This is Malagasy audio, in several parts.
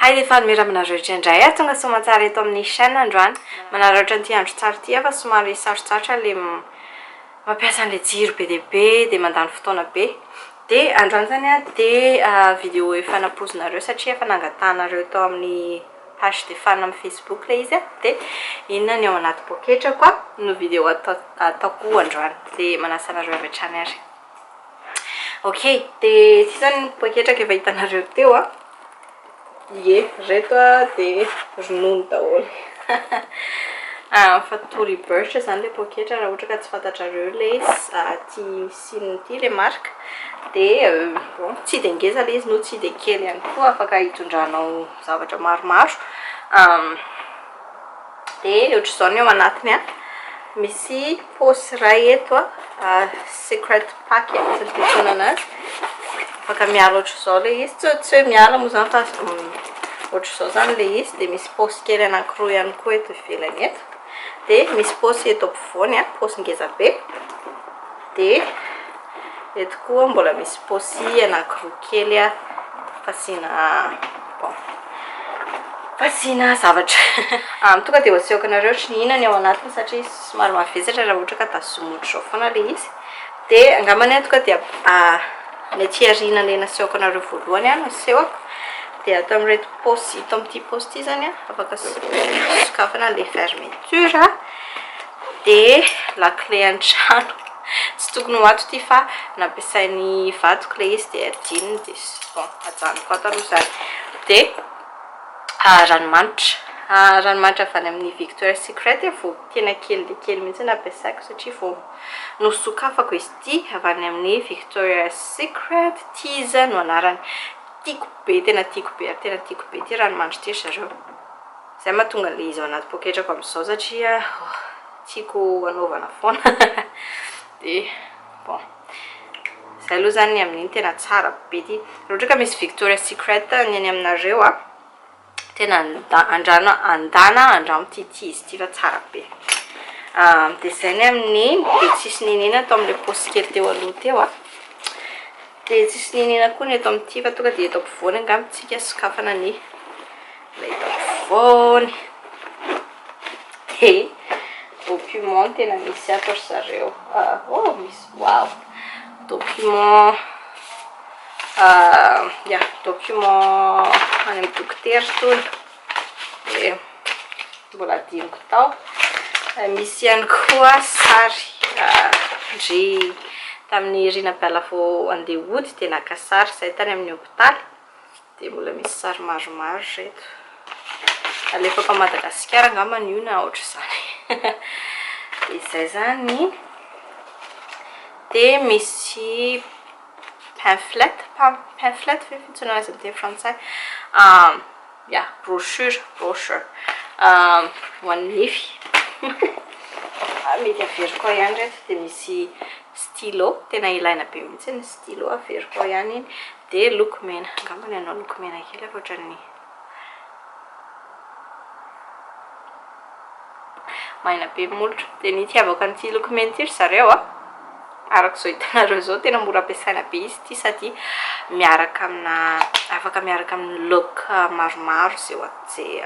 Hay le fa nomera aminareo rehetra indray aho tonga soamantsara eto amin'ny chaîne androany manararaotra an'ity andro tsara ity aho fa somary sarotsarotra le mampiasa an'le jiro be dia be dia mandany fotoana be de androany zany a de vidéo efa nampoizinareo satria efa nangatahanareo tao amin'ny page de fan amin'ny facebook le izy a de inona ny ao anaty poketrako a no vidéo ataoko androany de manasa anareo avy hatrany ary. Ok, dia ity izany ny poketraka efa hitanareo teo an. Ie, ireto dia ronono daholo. Factory Birch izany ilay poketra raha ohatra ka tsy fantatrareo ilay aty Sina aty ilay marika. Dia bon, tsy dia ngeza ilay izy no tsy dia kely ihany koa, afaka hitondranao zavatra maromaro. dia ohatr'izao ny ao anatiny a misy paosy iray eto a secret pack tsy haiko ny fiantsoana anazy afaka miala ohatr'izao ilay izy tsy tsy hoe miala moa izany fa ohatr'izao izany ilay izy dia misy paosy kely anankiroa ihany koa eto ivelany eto dia misy paosy eto ampovoany a paosy ngeza be Dia eto koa mbola misy paosy anankiroa kely fasiana bon fasiana zavatra. Amin'ny tonga dia ho asehoko anareo ohatry ny inona ny ao anatiny satria somary mavesatra raha ohatra ka tazomina ohatry izao foana ilay izy. Dia angambany aho tonga dia ny aty aoriana ilay nasehoko anareo voalohany no asehoko. Dia ato amin'ireto paosy ito amin'ity paosy ity izany afaka sokafana ilay fermeture. Dia lakile an-trano. Tsy tokony ho ato ity fa nampiasain'ny vadiko ilay izy dia adinony dia bon ajanoko ato aloha izany. Dia ranomanitra, ranomanitra avy any amin'ny Victoria Secret vao tena kely dia kely mihitsy nampiasaiko satria vao nosokafako izy ity avy any amin'ny Victoria Secret, Tease no anarany. Tiako be, tena tiako be ary tena tiako be ity ranomanitra ity ry zareo. Zay mahatonga le izy ao anaty poketrako amzao satria tiako anaovana foana de bon zay aloha zany ny amin'iny tena tsara be ty raha ohatra ka misy Victoria Secret ny any aminareo a tena andrano andana andramo ty ty izy ty fa tsara be de zay ny amin'iny de tsisy nenena ato amle paosy kely teo aloha teo a de tsisy nenena koa ny eto amin'ity fa tonga de eto ampovoany angamba tsika sokafana ny Foony dia document tena misy ato ry zareo oh misy wow document uh, yeah, document any amin'ny dokotera tony dia mbola diniko tao misy ihany koa sary ndry tamin'ny rinabala vao andeha hody dia naka sary izay tany amin'ny hopitaly Dia mbola misy sary maromaro reto. Alefako any Madagasikara angamba io na ohatr'izany. Dia izay izany. Dia misy pamphlet, pamphlet ve fantsoina azy amin'ny teny frantsay? Ya, brochure, brochure ho an'ny nify. Mety averiko ao ihany ireto. Dia misy Stylo, tena ilaina be mihitsy ny stylo, averiko ao ihany iny, dia loko mena, angamba ny anao loko mena kely ary ohatran'ny maina be ny molotra, dia ny itiavako an'ity loko mena ity ry zareo a, araka izao hitanareo izao tena mora ampiasaina be izy ity sady miaraka amina, afaka miaraka amin'ny look maromaro izay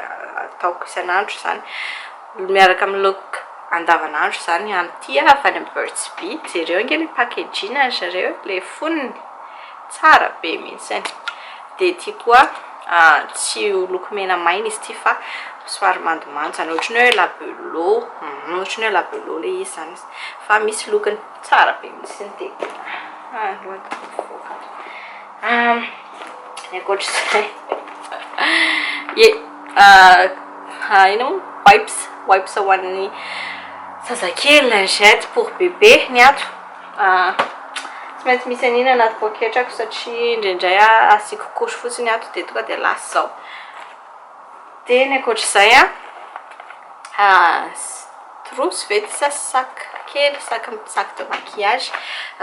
ataoko isan'andro izany. Mbola miaraka amin'ny look andavanandro izany any ity aho avy any amin'ny Burt's Bees. Jereo ange ilay packaging ry zareo e, ilay fonony. Tsara be mihitsy. Dia ity koa, tsy ho loko mena maina izy ity fa somary mandomando izany, ohatran'ny hoe labello, ohatran'ny hoe labello ilay izy izany fa misy lokony. Tsara be mihitsy ny dia tena aloha dia mivoaka. Ny ankoatr'izay ye inona moa wipes wipes ho an'ny zazakely lingette pour bébé ny ato tsy maintsy misy an'iny anaty poketrako satria indraindray asiako couche fotsiny ato dia tonga dia lasa izao Dia ny ankoatr'izay an, trousse ve ity sa sac kely, sac sac de maquillage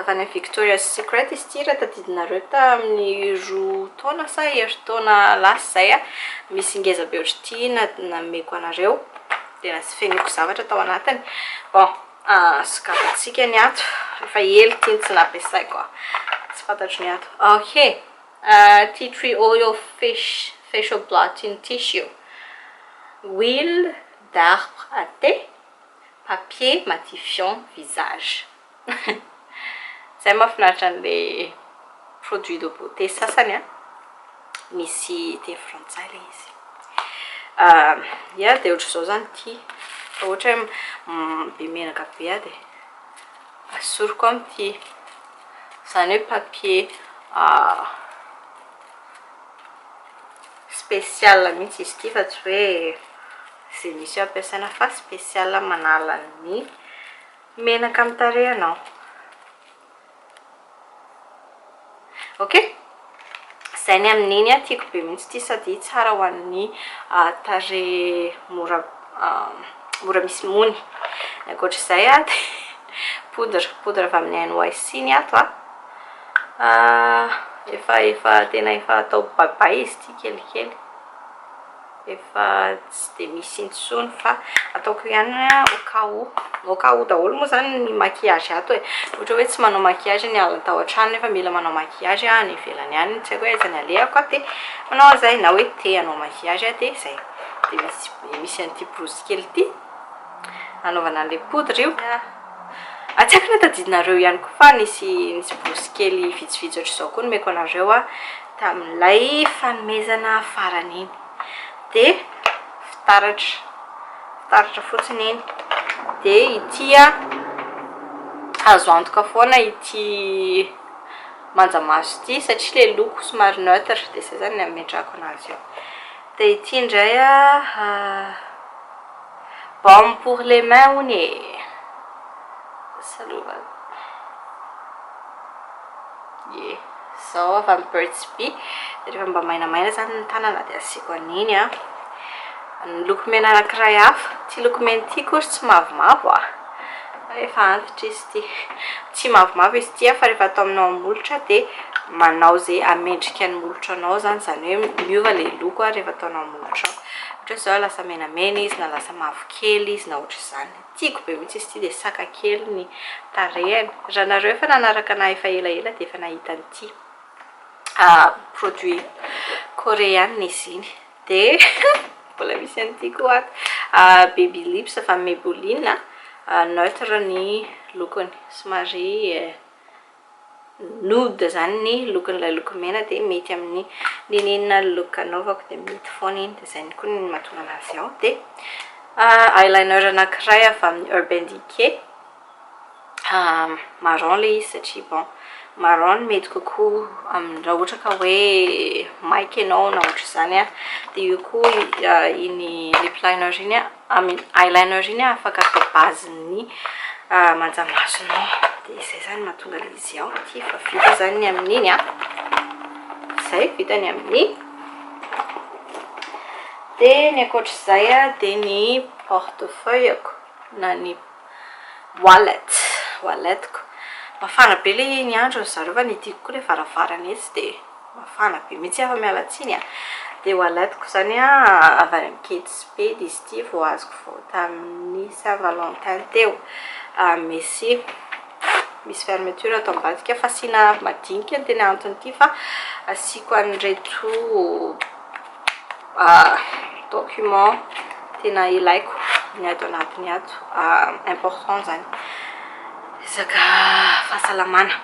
avy any Victoria's Secret izy ity raha tadidinareo tamin'ny roa taona sa herintaona lasa izay an, misy ngeza be ohatr'ity nameko anareo, dia lasa fenoiko zavatra tao anatiny, bon sokafantsika ny ato, efa ela ity no tsy nampiasaiko an, tsy fantatro ny ato, ok. Tea tree oil fish facial blotting tissue huile d'arbre à thé papier matifiant visage Zay mafinaritra anle produit de beauté sasany an! Misy teny frantsay le izy Ia dia ohatr'izao zany ity fa ohatra hoe be menaka be aho dia. Asoriko amin'ity, izany hoe papier spécial mihitsy izy ity fa tsy hoe izay misy eo ampiasaina fa spécial manala ny menaka amin'ny tarehinao. ok zay ny amin'iny a tiako be mihitsy ity sady tsara ho an'ny tarehy mora mora misy mony ny ankoatr'izay a de poudre poudre avy amin'ny nyc ny ato a efa efa tena efa atao bay bay izy ity kelikely efa tsy dia misy intsony fa ataoko ihany hoe au cas où au cas où daholo moa izany ny maquillage ato e ohatra hoe tsy manao maquillage ny alina tao an-trano nefa mila manao maquillage any ivelany any tsy haiko hoe aiza ny alehako dia manao an'izay na hoe te hanao maquillage aho dia izay dia misy misy an'ity borosy kely ity hanaovana an'ilay poudre io ary tsy haiko na tadidinareo ihany koa fa nisy nisy borosy kely vitsivitsy ohatr'izao koa nomeko anareo aho tamin'ilay fanomezana farany iny dia fitaratra fitaratra fotsiny iny dia ity a azo antoka foana ity manja maso ity satria le loko somary neutre dia zay zany ny ametrahako anazy eo dia ity indray a baume pour les mains hono e salova Ye. Zao avy amin'ny Burt's Bee, dia rehefa mba mainamaina izany ny tanana dia asiako an'iny an. Ny loko mena anankiray hafa, ity loko mena ity akory tsy mavomavo an. Fa efa antitra izy ity. Tsy mavomavo izy ity an, fa rehefa ataonao amin'ny molotra dia manao izay hamendrika ny molotranao izany, izany hoe miova ilay loko an rehefa ataonao amin'ny molotrao. Ohatra hoe izao lasa menamena izy, na lasa mavokely izy, na ohatr'izany. Tiako be mintsy izy ity dia saka kely ny tarehany. Raha nareo efa nanaraka anah efa ela ela dia efa nahita an'ity produit koreana izy iny. Dia mbola misy an'ity koa ato baby lips avy amin'ny maybelline neutre ny lokony somary Nude izany ny lokon'ilay loko mena dia mety amin'ny n'inon'inona look anaovako dia mety foana iny dia izay koa no mahatonga an'azy ao dia eyeliner anankiray avy amin'ny Urban Decay marron ilay izy satria bon marron no mety kokoa amin'ny raha ohatra ka hoe maika ianao na ohatr'izany dia io koa iny lip liner iny Amin eyeliner iny afaka atao base ny manjamasonao de izay zany mahatonga le izy ao ty fa vita zany ny amin'iny a zay vita ny amin'ny de ny ankoatr'izay a de ny portefeuille ako na ny Wallet, wallet ko. Mafana be le iny andro ny zareo fa ny tiako koa le varavarana etsy de mafana be mitsy aho miala tsiny a! de wallet ko zany a avy any am ketsipedy izy ity vao azoko vao tamin'ny saint valentin teo a messi misy fermeture ato ambadika fasiana madinika ny tena antony ity fa asiako an'ireto Document tena ilaiko ny ato anatiny ato, important zany resaka fahasalamana,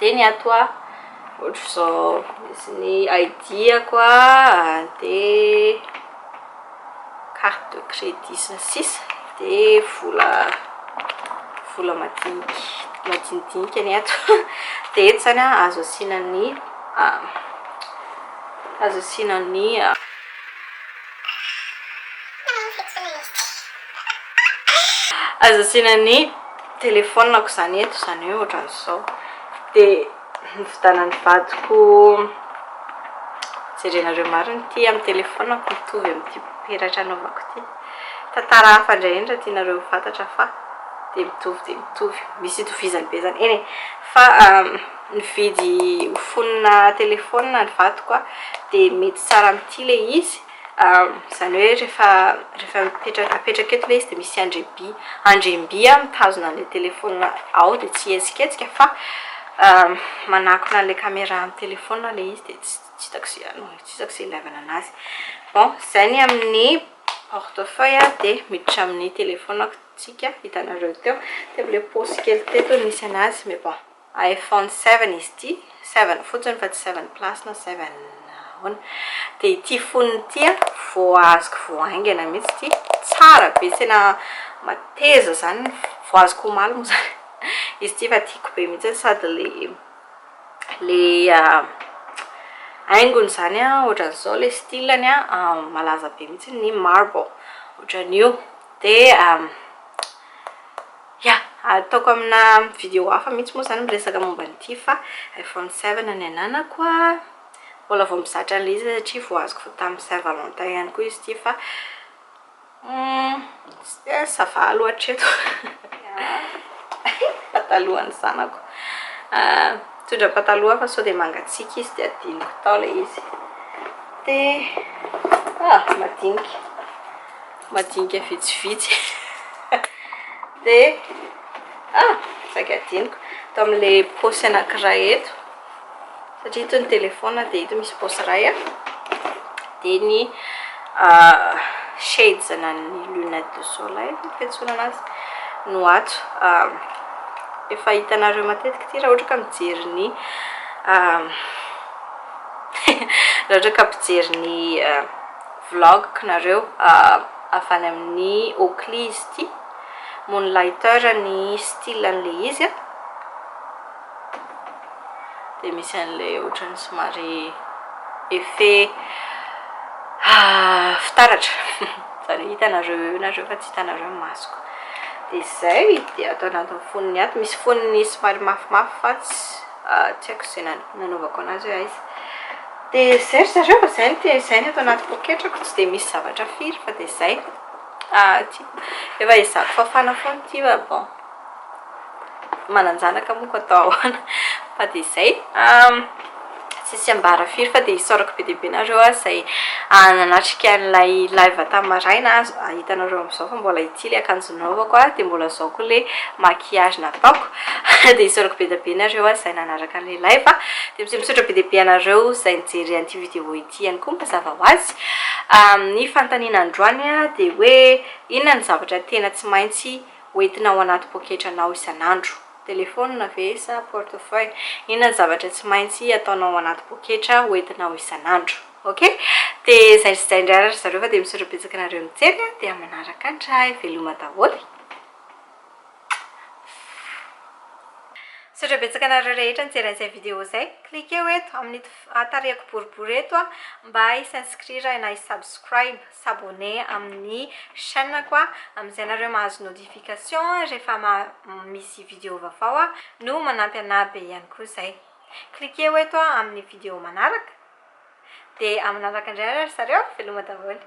de ny ato a ohatr'izao misy ny ID-ako a, de carte de crédit sy ny sisa de vola vola madiniky madinidinika ny ato, de eto zany a azo asiana ny. Azo asiana nia. Azo asiana ny telefonako izany eto izany hoe ohatran'izao dia novidanan'ny vadiko jerenareo marina ity amin'ny telefonako mitovy amin'ity peratra anaovako ity tantara hafa indray indray tianareo ho fantatra fa dia mitovy dia mitovy misy itovizany be izany eny e fa Nividy ho fonona telefaonina ny vadiko aho dia mety tsara amin'ity ilay izy, izany hoe rehefa rehefa mipetraka apetraka eto ilay izy dia misy andriamby andriamby mitazona an'ilay telefaonina ao dia tsy hihetsiketsika fa manakona an'ilay camera amin'ny telefaonina ilay izy dia tsy tsy hitako izay anao tsy hitako izay ilàvana an'azy. Bon, izay ny amin'ny portefeuille dia miditra amin'ny telefaonina tsika hitanareo teo, teo amin'ilay paosy kely teto no nisy an'azy mais bon. iPhone seven izy ity, seven fotsiny fa tsy seven plus na seven ahoana. Dia ity fonony ity an, vao azoko vao haingana mihitsy ity, tsara be, tena mateza izany, vao azoko omaly moa izany izy ity fa tiako be mihitsy, sady ilay ilay haingony izany an, ohatran'izao ilay style-ny an, malaza be mihitsy ny marble, ohatran'io, dia. Ya, ataoko amina video hafa mihitsy moa izany miresaka momba an'ity fa iPhone seven ny ananako a, mbola vao mizatra an'ilay izy satria vao azoko vao tamin'ny Saint Valentin ihany koa izy ity fa ça va aloha hatreto patalohan'ny zanako mitondra pataloha fa sao dia mangatsiaka izy dia adinoko tao ilay izy dia ah madinika madinika vitsivitsy dia ah! saika adinoko tao amin'ilay paosy anankiray eto satria ito ny telefona dia ito misy paosy iray a dia ny shades na ny lunette de soleil ny fiantsoana anazy no ato efa hitanareo matetika ity raha ohatra ka mijery ny raha ohatra ka mpijery ny vlog nareo avy any amin'ny Oakley izy ity, Moonlighter ny style an'ilay izy a, dia misy an'ilay ohatran'ny somary effet fitaratra, izany hoe hitanareo eo nareo fa tsy hitanareo ny masoko, dia izay, dia ato anatin'ny fonony ato, misy fonony somary mafimafy fa tsy haiko izay nanaovako an'azy hoe aiza. Dia izay ry zareo fa izay no te izay no eto anaty poketrako tsy dia misy zavatra firy fa dia izay ah ty efa ezahako fafana foana ity fa bon manan-janaka moa koa atao ahoana fa dia izay tsisy ambara firy fa dia isaorako be dia be nareo ah izay nanatrika an'ilay live tamin'ny maraina ah hitanareo amin'izao fa mbola ity ilay akanjo Nanaovako a, dia mbola zao koa le maquillage nataoko, dia isaorako be dia be nareo a zay nanaraka anle live a, dia mse misaotra be dia be anareo zay nijery an'ity vidéo ity ihany koa mazava ho azy, ny fanontaniana androany a dia hoe inona no zavatra tena tsy maintsy ho entinao anaty poketranao isan'andro? Téléphone ve sa portefeuille? Inona no zavatra tsy maintsy ataonao anaty poketra ho entinao isan'andro? Ok de zay sy zay ndray ary zareo fa de misaotra betsaka nareo nijery a de amanaraka ndray veloma daholy Misaotra betsaka anareo rehetra nijery an'izay vidéo zay. Cliquez-o eto amin'ito tarehiko boribory eto mba hi s'inscrire na hi subscribe, s'abonner amin'ny chaîne-ko amin'izay ianareo mahazo notification rehefa misy vidéo vaovao aho no manampy anah be ihany koa izay. Cliquez-o eto amin'ny video manaraka dia manaraka indray ary ry zareo veloma daholo.